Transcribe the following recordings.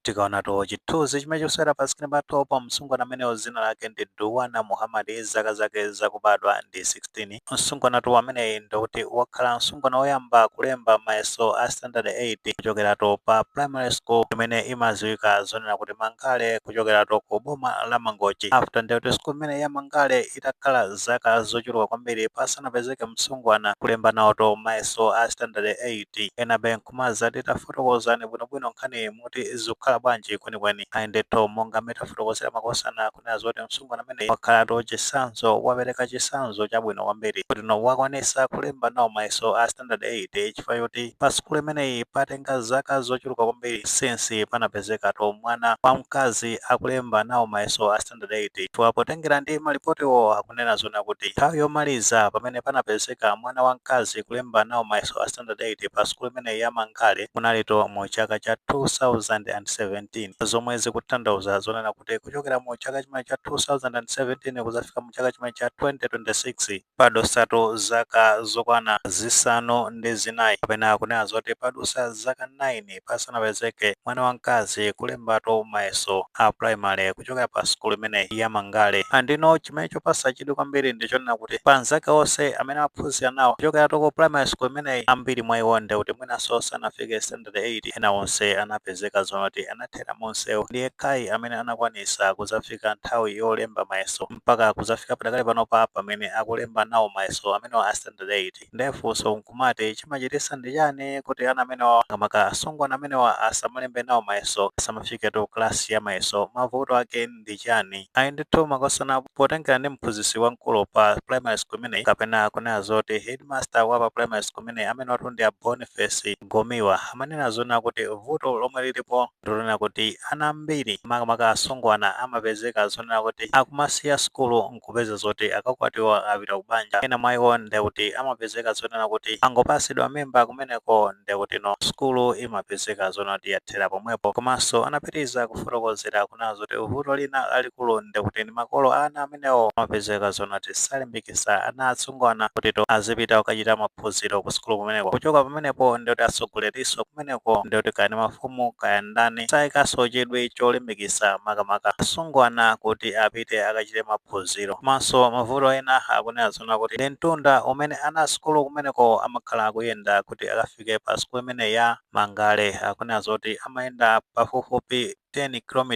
Tikaonatu chithunzi chimene chikusewera pa screen pathupa, msungwana amenewo dzina lake ndi Duwana Muhammad, zaka zake zakubadwa ndi 16. Msungwanatu ameneyi ndikuti wakhala msungwana woyamba kulemba mayeso a standard 8 kuchokeratu pa primary school imene imadziwika zonena kuti Mangale kuchokeratu ku boma la Mangochi. After ndiye kuti school imeneyi ya Mangale itakhala zaka zochuluka kwambiri pasanapezeke msungwana kulemba nawotu mayeso a standard 8, enabe nkumazati tafotokozani bwino bwino nkhaniyi muti zikukhala bwanji kwenikweni ayi ndithu monga mmene tafotokozera makosana kunena zoti msungwana ameneyi wakhalatu chitsanzo wapereka chitsanzo chabwino kwambiri kotino wakwanitsa kulemba nawo mayeso a standard 8 chifukwa choti pa sukulu imeneyi patenga zaka zochuluka kwambiri since panapezekatu mwana wamkazi akulemba nawo mayeso a standard 8 chifukwa potengera ndi malipotiwo akunena zonena kuti nthawi yomaliza pamene panapezeka mwana wamkazi kulemba nawo mayeso a standard 8 pa sukulu imeneyi ya Mangale kunalitu mu chaka cha 2017 zomwe zikutanthauza zonena kuti kuchokera mu chaka chimene cha 2017 kuzafika mu chaka chimene cha 2026 padusatu zaka zokwana zisanu ndi zinayi kapena kunena zoti padusa zaka 9 pasanapezeke mwana wamkazi kulembatu mayeso a primary kuchokera pa sukulu imeneyi ya Mangale. And no chimene chopasa chidwi kwambiri ndi chonena kuti pa anzake onse amene amaphunzira nawo kuchokeratu ku primary school imeneyi, ambiri mwa iwo nde kuti mwinanso sanafike standard 8. Ena onse anapezeka zonena kuti anathera mumsewu. Ndi yekhayi amene anakwanitsa kudzafika nthawi yolemba mayeso. mpaka kuzafika padakali panopa pamene akulemba nawo mayeso amenewa a standard 8 ndiye funso nkumati chimachitisa ndi chani kuti ana amenewa makamaka asungwana amenewa asamalembe nawo mayeso asamafiketu klasi ya mayeso mavuto ake ndi chani ayi ndithu makosana potengera ndi mphunzitsi wamkulu pa primary school imeneyi kapena kunena zoti headmaster wa pa primary school imeneyi amenewatu ndi a boniface gomiwa amanena zonena kuti vuto lomwe lilipo ndilonena kuti ana ambiri makamaka asungwana amapezeka zonena kuti akumasiya sukulu nkupeza zoti akakwatiwa apita ku banja, ena mwa iwo nde kuti amapezeka zonena kuti angopasidwa mimba kumeneko nde kutino sukulu imapezeka zonena kuti yathera pomwepo komanso anapitiliza kufotokozera kunena zoti vuto lina lalikulu nde kuti ndi makolo a ana amene amenewo amapezeka zonati salimbikisa ana asungwana kutino azipita kukachita maphunziro kusukulu kumeneko kuchoka pamenepo nde kuti asogoleriso kumeneko nde kuti kaya ndi mafumu kaya ndani sayikaso chidwi cholimbikisa makamaka asungwana kuti apite akachite maphunziro komanso mavuto ena akunena zonena kuti ndi mtunda umene ana asukulu kumeneko amakhala akuyenda kuti akafike pa sukulu imene ya mangale akunena zoti amayenda pafupifupi 10 km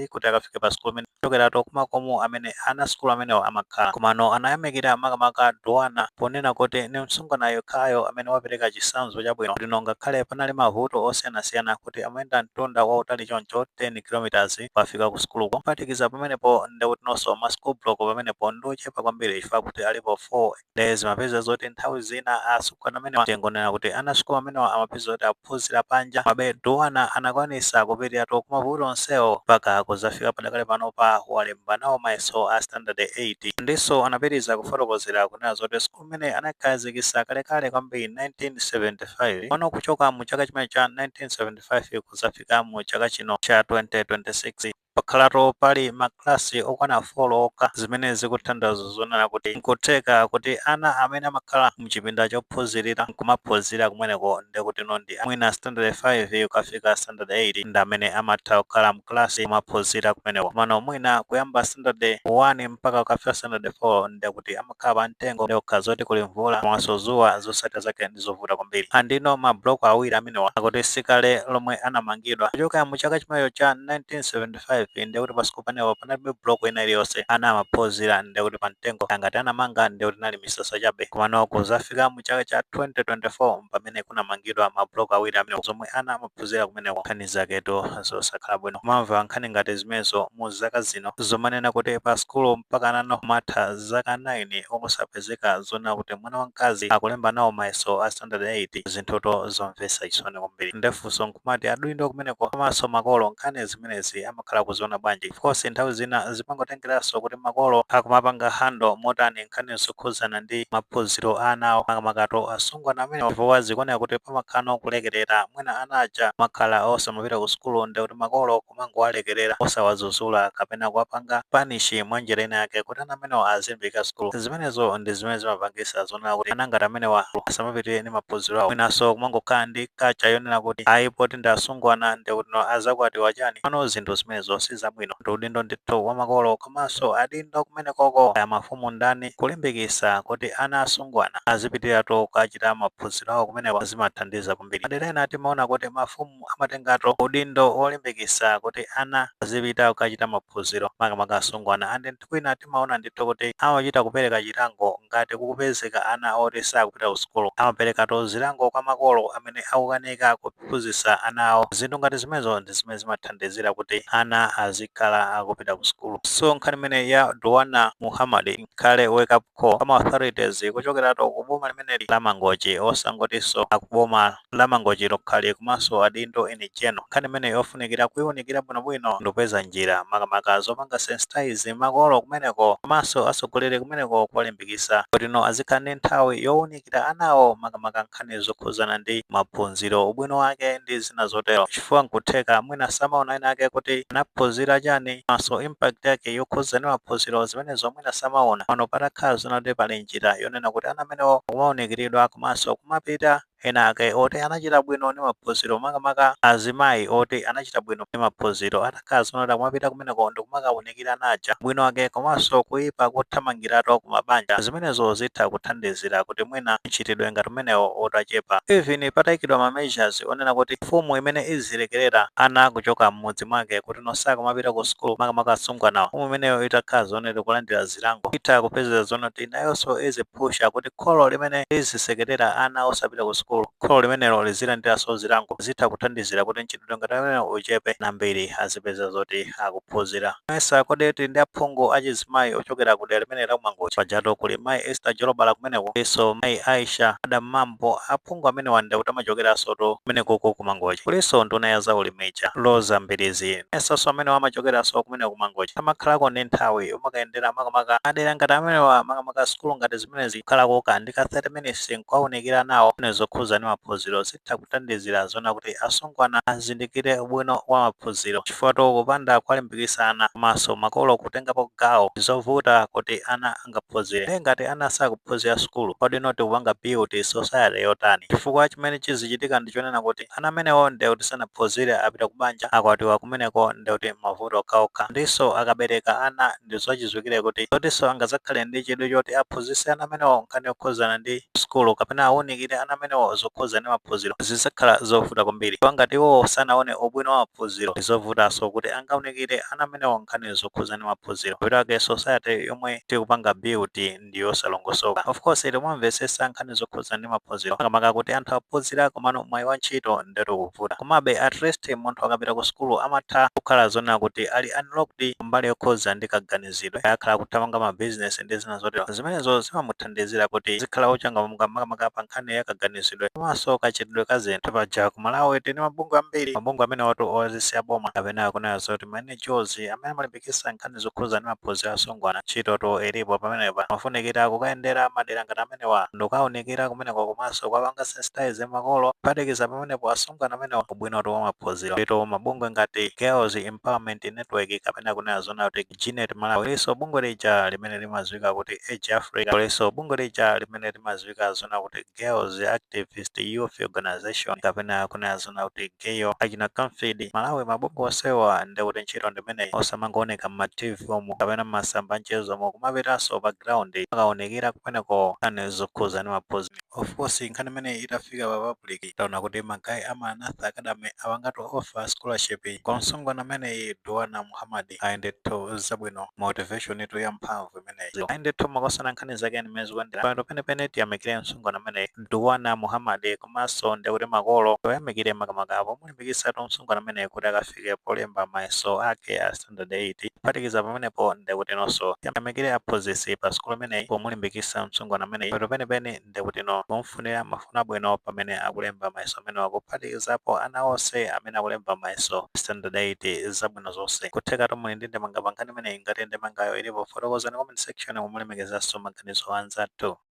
kuti akafike pa sukulu imene kuchokeratu kumakomo amene ana sukulu amenewa amakhala komano anayamikira makamaka Duana ponena kuti ni msungwana yekhayo amene wapereka chitsanzo chabwino lino ngakhale panali mavuto osiyanasiyana kuti amayenda mtunda wautali choncho 10 km kukafika ku sukuluko kuphatikiza pamenepo ndekutinonso ma school block pamenepo ndi ochepa kwambiri chifukwa kuti alipo 4 nde zimapeza zoti nthawi zina asungwana amenewa tingonena kuti ana sukulu amenewa amapeza zoti aphunzira panja mabe duwana anakwanisa kupitiratu kumavuto onsewo mpaka kuzafika padakali panopa walemba nawo mayeso a standard 8 ndiso anapitiriza kufotokozera kunena zoti sukulu imene anaikhazikisa kalekale kwambiri 1975 pano kuchoka mu chaka chimene cha 1975 kuzafika mu chaka chino cha 2026 Pakhalatu pali makalasi okwana folo okha zimene zikutanthauza zonena kuti n'kutheka kuti ana amene amakhala m'chipinda chophunzirira n'kumaphunzira kumeneko ndiye kutino ndi a mwina sitandade 5 kukafika sitandade 8 ndi amene amatha kukhala m'kalasi n'kumaphunzira kumeneko. Komano mwina kuyamba sitandade 1 mpaka kukafika sitandade 4 ndiye kuti amakhala kukhala pa mtengo ndiye kukhala zoti kuli mvula komanso zuwa zosatira zake ndizovuta kwambiri andino ma block awiri amenewa akuti sikale lomwe anamangidwa kuchoka mu chaka chimenecho cha 1975 ndekuti pa sukulu pamenepa panalibe block ina iliyonse ana amaphunzira ndekuti pa mtengo angati anamanga ndekuti inali misasa chabe komano kuzafika mu chaka cha 2024 mpamene kunamangidwa ma block awiri amenewa zomwe zimene ana amaphuzira kumeneko nkhani zaketu zosakhala bwino kumamva nkhani ngati zimenezo mu zaka zino zomanena kuti pa sukulu mpaka anano kumatha zaka 9 osapezeka zonena kuti mwana wa mkazi akulemba nawo mayeso a standard 8 zinthutu zomvesa chisoni kwambiri nde funso nkumati adindo kumeneko komanso makolo nkhani zimenezi ama kukhala akuziona bwanji of course nthawi zina zimangotengeraso kuti makolo akumapanga handle motani nkhani zokhuzana ndi maphuziro a ana awo makamakatu asungwana amenewa chifukwa zikuoneka kuti pamakhalano kulekerera mwina ana aja kumakhala osamapita ku sukulu ndekuti makolo kumangowalekerera osawazuzula kapena kuwapanga panishi mwa njira ina yake kuti ana amenewa azilimbika sukulu zimenezo ndi zimene zimapangisa zo kunena kuti ana ngati amenewa asamapitire ndi maphunziro awo mwinanso kumangokhala ndi kacha yonena kuti ayi poti ndi asungwana ndekutino azakwatiwa chani komano zinthu zimenezo si zabwino ndi udindo ndithu wa makolo komanso adindo kumenekoko aya mafumu ndani kulimbikisa kuti ana asungwana azipitiratu kukachita maphunziro awo kumeneko zimathandiza kwambiri madera ena timaona kuti mafumu amatengatu udindo wolimbikisa kuti ana azipita kukachita maphunziro makamaka asungwana andi kwina timaona ndithu kuti amachita kupereka chilango ngati kukupezeka ana oti sakupita ku sukulu. Amaperekatu zilango kwa makolo amene akukanika kuphunzitsa ana awo. Zinthu ngati zimenezo ndi zimene zimathandizira kuti ana azikhala akupita ku sukulu. So nkhani imeneyi ya Duanna Muhammad ikhale wake-up. kho kwa ma authorities kuchokeratu ku boma limeneli la Mangochi osangotinso aku boma la Mangochi lokhalo komanso adindo in general. Nkhani imeneyi yofunikira kuiunikira bwinobwino ndikupeza njira makamaka zopanga sensitize makolo kumeneko komanso atsogoleri kumeneko kuwalimbikitsa kuti no azikhala ndi nthawi yowuni. kira anawo makamaka nkhani zokhudzana ndi maphunziro, ubwino wake ndi zina zotero chifukwa nkutheka mwina samaona ena ake kuti anaphunzira chani komanso impact yake yokhudza ndi maphunziro zimenezo mwina samaona. Pano patakhala zonena kuti pali njira yonena kuti ana amenewo kumaunikiridwa komanso kumapita ena ake oti anachita bwino ndi maphunziro makamaka azimayi oti anachita bwino ndi maphunziro. atakhala zonena kuti kumapita kumeneko ndikumakaunikira ana aja ubwino wake komanso kuipa kothamangiratu kumabanja zimenezo zitha kuthandizira kuti mwina mchitidwe ngati umenewo utachepa even pataikidwa ma measures onena kuti mfumu imene izilekerera ana kuchoka m'mudzi mwake kuti nosakumapita ku sukulu makamaka asungwanawo mfumu imeneyo itakhala zonena kuti kulandira zilango itha kupezera zonena kuti nayonso iziphusha kuti kholo limene lizisekerera ana osapita ku sukulu Kholo limenelo lizilandiranso zilango zitha kuthandizira kuti mchitidwe ngati amenewa uchepe ana ambiri azipeza kuti akuphunzira. Mesa kodi tili ndi aphungu achizimayi ochokera kudera limeneli la ku Mangochi? Pajatu kuli mayi Esther Jolobala kumeneko kulinso mayi Aisha Adam Mambo aphungu amenewa ndekuti amachokeransotu kumenekuku ku Mangochi. Kulinso nduna ya zaulimi ija Roza Mbilizi mesanso amenewa amachokeranso kumeneko ku Mangochi? Amakhalako ndi nthawi yomakayendera makamaka madera ngati amenewa makamaka sukulu ngati zimenezi kukhalako kaya ndi ka 30 minutes nkuwaunikira anawo nkhani zokhuza ndi maphunziro zitha kuthandizira zonena kuti asungwana azindikire ubwino wa maphunziro chifukwa-tu kupanda kuwalimbikisa ana komanso makolo kutengapo gawo ndizovuta kuti ana angaphunzire ndiye ngati ana sakuphunzira sukulu kodi-no tikupanga build society yotani chifukwa chimene chizichitika ndichonena kuti ana amenewo ndiye kuti sanaphunzire apita kubanja akwatiwa kumeneko ndiye kuti mavuto okhaokha ndinso akabereka ana ndi zachidziwikire kuti sikutinso angazakhale ndi chidwi choti aphunzitse ana amenewo nkhani yokhuzana ndi sukulu kapena awunikire ana amenewo zokhuza ndi maphunziro zizakhala zovuta kwambiri chifukwa ngati iwowo sanaone ubwino wa maphunziro ndi zovutaso kuti angaunikire ana amenewo nkhani zokhuza ndi maphunziro mapeto ake society yomwe tikupanga build ndi yosalongosoka. Of course timamvesesa nkhani zokhudzana ndi maphunziro makamaka kuti anthu aphunzira komano mwayi wa ntchito ndetu ukuvuta. Komabe at least munthu akapita ku sukulu amatha kukhala zonena kuti ali unlocked ku mbali yokhudzana ndi kaganizidwe. Kaya akhala akuthamanga ma business ndi zina zotero. Zimenezo zimamuthandizira kuti azikhala wochangamuka makamaka pa nkhani ya kaganizidwe komanso kachitidwe ka zinthu. Paja ku Malawi tili ndi mabungwe ambiri. Mabungwe amenewatu osati a boma kapena kunena zoti ma NGOs amene amalimbikitsa. kulimbikitsa nkhani zokhudza ndi maphunziro a asungwana. Ntchitotu ilipo pamenepa. Kumafunikira kukayendera madera ngati amenewa ndikukaonekera kumeneko komanso kuwapanga sensitize makolo kuphatikiza pamenepo asungwana amenewa ubwinotu wa maphunziro. Ndiyetu mabungwe ngati Girls Empowerment Network kapena kunena zoona kuti Genet Malawi, kulinso bungwe lija limene limadziwika kuti Age Africa, kulinso bungwe lija limene limadziwika zoona kuti. Girls Activist Youth Organization kapena kunena zoona kuti Gayo, achina Camfed, Malawi mabungwe onsewa nde kuti ntchito ndimeneyi osamangooneka mma TV umu kapena mmasamba amchezo umu kumapitanso pa ground kumakaonekera kumeneko nkhani zokhudza ndi maphunziro. Of course nkhani imeneyi itafika pa public taona kuti ma guy a Maranatha Academy apangatu offer scholarship kwa msungwana ameneyi Duwana Muhammad. ayi ndithu zabwino motivation tu ya mphamvu imeneyo ayi ndithu makosana nkhani zake ndi mmene zikuyendera pano penepene tiyamikire msungwana ameneyi Duwana Muhammad komanso ndikuti makolo tiwayamikire makamaka pomulimbikitsatu msungwana ameneyi kuti akafike polemba mayeso ake a standard 8 kuphatikiza pamenepo ndikuti nonso tiyamikire aphunzitsi pa sukulu imeneyi pomulimbikitsa msungwana ameneyi pano penepene ndi kutino kumfunira mafuno abwino pamene akulemba mayeso amenewa kuphatikizapo ana onse amene akulemba mayeso a standard 8 zabwino zonse kuthekatu muli ndi ndemanga pa nkhani imeneyi ngati ndemangayo ilipo fotokozani mu comment section mu kulemekezanso maganizo a anzathu